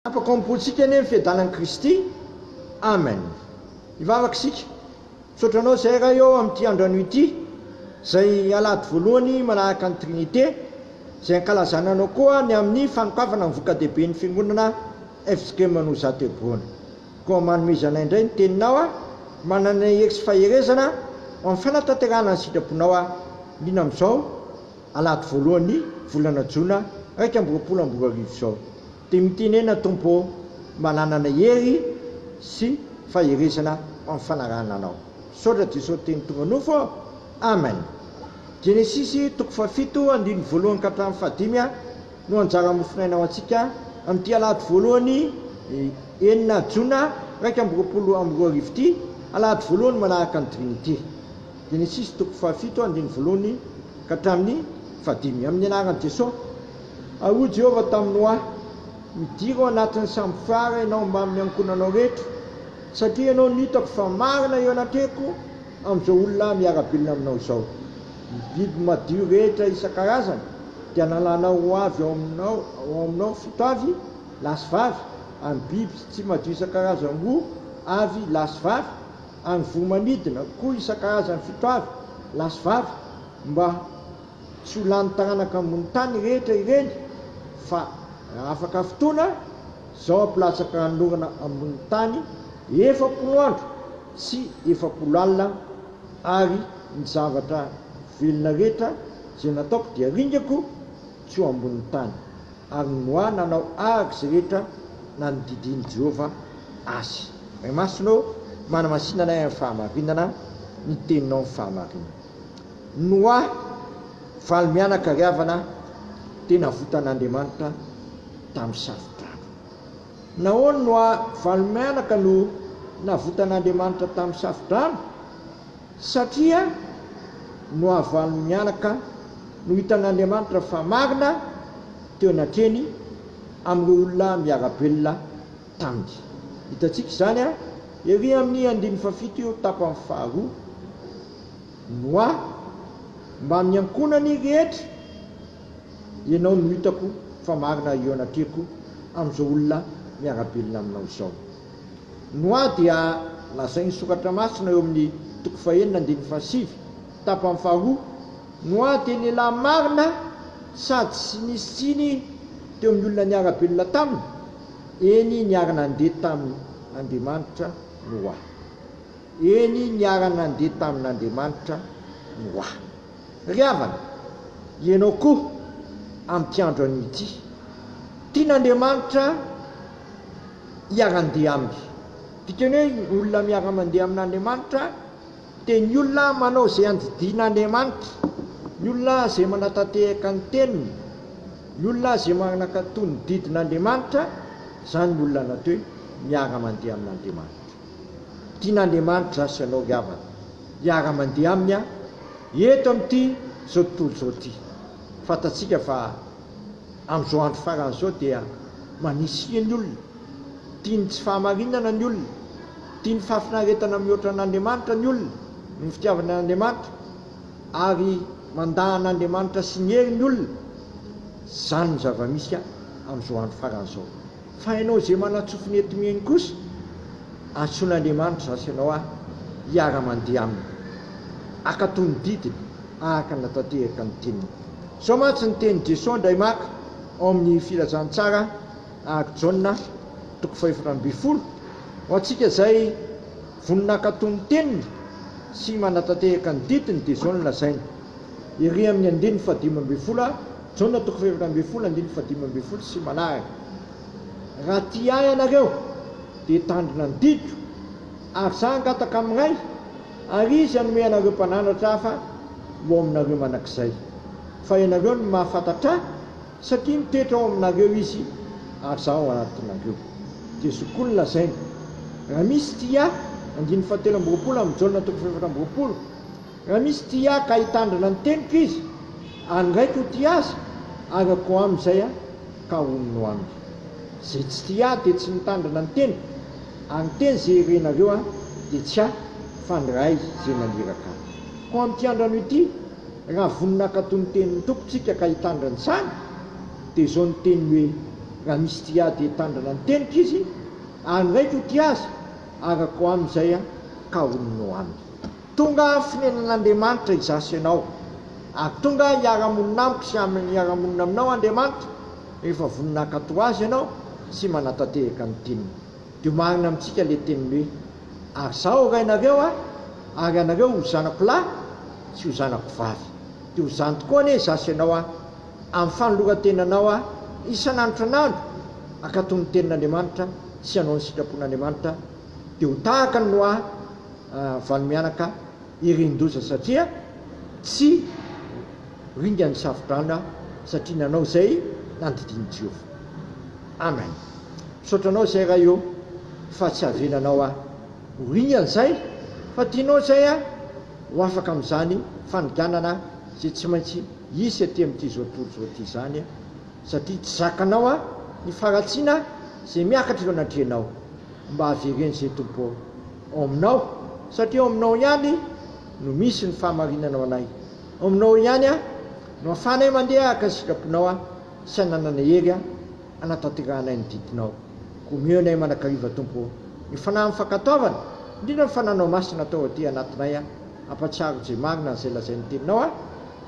Afaka ampoantsika anie ny fiadanan'i Kristy. Amen. Hivavaka isika. Misaotra Anao izahay Ray ô amin'ity andro anio ity, izay Alahady voalohany manaraka ny Trinite, izay ankalazana Anao koa ny amin'ny fanokafana ny voka-dehiben'ny Fiangonana FJKM Manozato Hebron. Koa manomezanay indray ny Teninao a, manana hery sy faherezana ho amin'ny fanatanterahana ny sitraponao a, indrindra amin'izao Alahady voalohan'ny volana Jona iraika amby roapolo amby roa arivo izao. Dia mitenena Tompo ô, mananana hery sy faherezana amin'ny fanarahana Anao. Misaotra Jesosy Teny tonga nofo ô! Amen! Genesisy toko fahafito andininy voalohany ka hatramin'ny fahadimy no anjaran'ny mofonaina ho antsika amin'ity alahady voalohany enina jona iraika amby roapolo amby roa arivo ity, alahady voalohany manaraka ny dimy ity. Genesisy toko fahafito andininy voalohany ka hatramin'ny fahadimy. Amin'ny anaran'i Jesosy. Ary hoy Jehovah tamin'i Noa, Midira ao anatin'ny sambo fiara ianao mbamin'ny ankohonanao rehetra, satria ianao no hitako fa marina eo anatrehako amin'izao olona miara-belona aminao izao. Ny biby madio rehetra isan-karazany dia nalanao ho avy ao aminao, ao aminao fito avy, lahy sy vavy, ary ny biby tsy madio isan-karazany roa avy, lahy sy vavy, ary ny voro-manidina koa isan-karazany fito avy, lahy sy vavy, mba. Tsy ho lany taranaka ambony tany rehetra ireny fa raha afaka fotoana, izao hampilatsaka hanorina ambony tany efapolo andro sy efapolo alina ary ny zavatra velona rehetra izay nataoko dia ringako tsy ho ambony tany. Ary ny Noa nanao araka izay rehetra nanodidian'i Jehovah azy. Ray Masina ô, manamasina anay amin'ny fahamarinana, ny Teninao ny fahamarinana. Noa, valy mianakariavana dia navotan'Andriamanitra tamin'ny safo-drano. Nahoana no valy mianaka no navotan'Andriamanitra tamin'ny safo-drano? Satria Noa valy mianaka no hitan'Andriamanitra fa marina teo anatrehany amin'ireo olona miara-belona taminy. Hitantsika izany ery amin'ny andininy fahafito io tapany faharoa. Noa, mbamin'ny ankohonany rehetra ianao no hitako fa marina eo anatrehako amin'izao olona miara-belona aminao izao. Noa dia lazain'ny soratra masina eo amin'ny toko fahenina andininy fahasivy, tapany faharoa, Noa dia lehilahy marina sady tsy nisy tsiny teo amin'ny olona niara-belona taminy, eny niara-nandeha tamin'Andriamanitra Noa. Eny niara-nandeha tamin'Andriamanitra Noa. Ry havana, ianao koa amin'ity andro anio ity, tian'Andriamanitra hiara-ndeha aminy. Ity teny hoe olona miara-mandeha amin'Andriamanitra dia ny olona manao izay andidian'Andriamanitra, ny olona izay manatanteraka ny teniny, ny olona izay manakato ny didin'Andriamanitra, izany ny olona natao hoe miara-mandeha amin'Andriamanitra. Tian'Andriamanitra sy ianao havana hiara-mandeha Aminy aho eto amin'ity izao tontolo izao ity. Fantatsika fa amin'izao andro farany izao dia manisia ny olona, tian'ny tsy fahamarinana ny olona, tian'ny fahafinaretana mihoatra an'Andriamanitra ny olona noho ny fitiavany an'Andriamanitra ary mandà an'Andriamanitra sy ny heriny olona. Izany no zava-misy amin'izao andro farany izao. Fa ianao izay manantsofina eto mi eny kosa, antsoin'Andriamanitra izaho sy ianao ahy hiara-mandeha Aminy, hankatò ny didiny araka ny nahatanteraka ny teniny. Izao mantsy ny tenin'i Jesoa indray maka ao amin'ny Filazantsara araka Jaona, toko fahefatra ambin'ny folo, Ho antsika izay Vonona hankatò ny teniny sy manatanteraka ny didiny dia izao no lazainy, Ery amin'ny andininy fahadimy ambin'ny folo a, Jaona toko fahaefatra ambin'ny folo andininy fahadimy ambin'ny folo sy manaraka, Raha tia ahy ianareo dia hitandrina ny didiko, ary izaho hangataka amin'ny Ray, ary Izy hanome anareo Mpananatra hafa ho ao aminareo mandrakizay, fa ianareo no mahafantatra ahy, Satria mitoetra ao aminareo Izy, ary Izaho ao anatinareo. Dia zokiolona lazaina. Raha misy tia Ahy, andininy fahatelo amby roapolo amin'ny Jaona toko fahefatra amby roapolo, Raha misy tia Ahy ka hitandrina ny teniko izy, ary ny Raiko ho tia azy, ary Aho koa aminy izay Aho, ka honina ho aminy. Izay tsy tia Ahy dia tsy mitandrina ny teniko, ary ny teny izay herenareo Ahy dia tsy Ahy, fa ny Ray izay naniraka Ahy. Koa amin'ity andrano ity, Raha vonona hankatò ny tenin'ny Tompo tsika ka hitandrina izany, dia izao ny teniny hoe, Raha misy tia ahy dia hitandrina ny teniko izy, ary ny Raiko hotia azy, araka ho amin'izay ka honina ho aminy. Tonga aho fonenan'Andriamanitra izaho sy ianao, ary tonga aho hiara-monina amiko sy aminy hiara-monina aminao Andriamanitra, rehefa vonona hankatò Azy ianao sy manatanteraka ny teniny. Dia marina amintsika ilay teniny hoe, Ary izaho ho rainareo a, ary ianareo ho zanako lahy sy ho zanako vavy. Dia ho izany tokoa anie izaho sy ianao a, amin'ny fanoloran-tenanao a, isan'andro isan'andro, hankatò ny tenin'Andriamanitra sy hanao ny sitrapon'Andriamanitra, dia ho tahaka an'i Noa valo mianaka irin-doza, satria tsy Ringa ny safodrano aho satria nanao izay nandidian'i Jehovah. Amen. Misaotra anao izay Ray ô fa tsy avelanao aho ho ringa an'izay fa tianao izay aho ho afaka amin'izany faniganana izay tsy maintsy hisy aty amin'ity izao tontolo izao ity izany satria tsy zakanao aho ny faharatsiana izay miakatra eo anatrehanao mba avereno izay Tompo ô ao aminao satria ao aminao ihany no misy ny fahamarinana ho anay Ao aminao ihany aho no ahafahanay mandeha araka ny sitraponao aho sy anananay hery hanatanteranay ny didinao. Koa omeo anay mandrakariva Tompo ô, ny fanahy mifankatoavana, indrindra ny fananao masina atao aty anatinay aho, hampatsiaro izay marina an'izay lazain'ny teninao aho,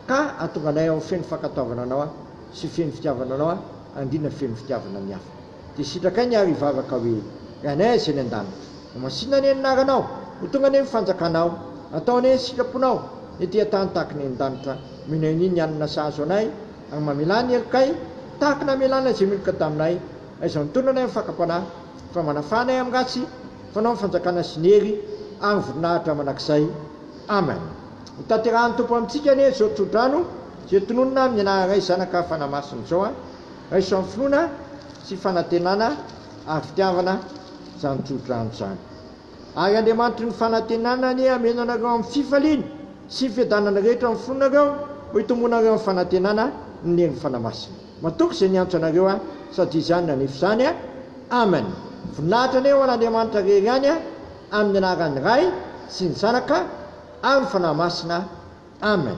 ka hahatonga anay ho feno fankatoavana anao aho sy feno fitiavana anao aho ary indrindra feno fitiavana ny hafa. Dia sitrakay ny aro hivavaka hoe, Ry Anay izay any an-danitra. Ho masinina anie ny anaranao. Ho tonga anie ny fanjakanao. Atao anie ny sitraponao. Ny ety an-tany tahaka ny eny an-danitra. Omena anie ny hanina sahazo anay. Ary mamelà ny helokay, tahaka ny hamelàn'ilay izay miloka taminay. Aizaho ny tondranay amin'ny fakam-panahy. Fa manafà anay amin'ny ratsy. Fanao ny fanjakana sy ny hery, ary ny voninahitra mandrakizay. Amen. Hotanterahin'ny Tompo amintsika anie izao tsodrano izay tononina amin'ny anaran'Ray, Zanaka, Fanahy Masina izao an. Raiso amin'ny finoana sy fanantenana ary fitiavana izany tsodrano izany. Ary Andriamanitry ny fanantenana anie hameno anareo amin'ny fifaliana sy ny fiadanana rehetra amin'ny fonareo, ho itombonareo amin'ny fanantenana ny Neny Fanahy Masina. Matoky izay niantso anareo aho, sady Izy ihany nanefy izany. Amen. Voninahitra anie ho an'Andriamanitra rery ihany, amin'ny anaran'ny Ray sy ny Zanaka ary ny Fanahy Masina. Amen.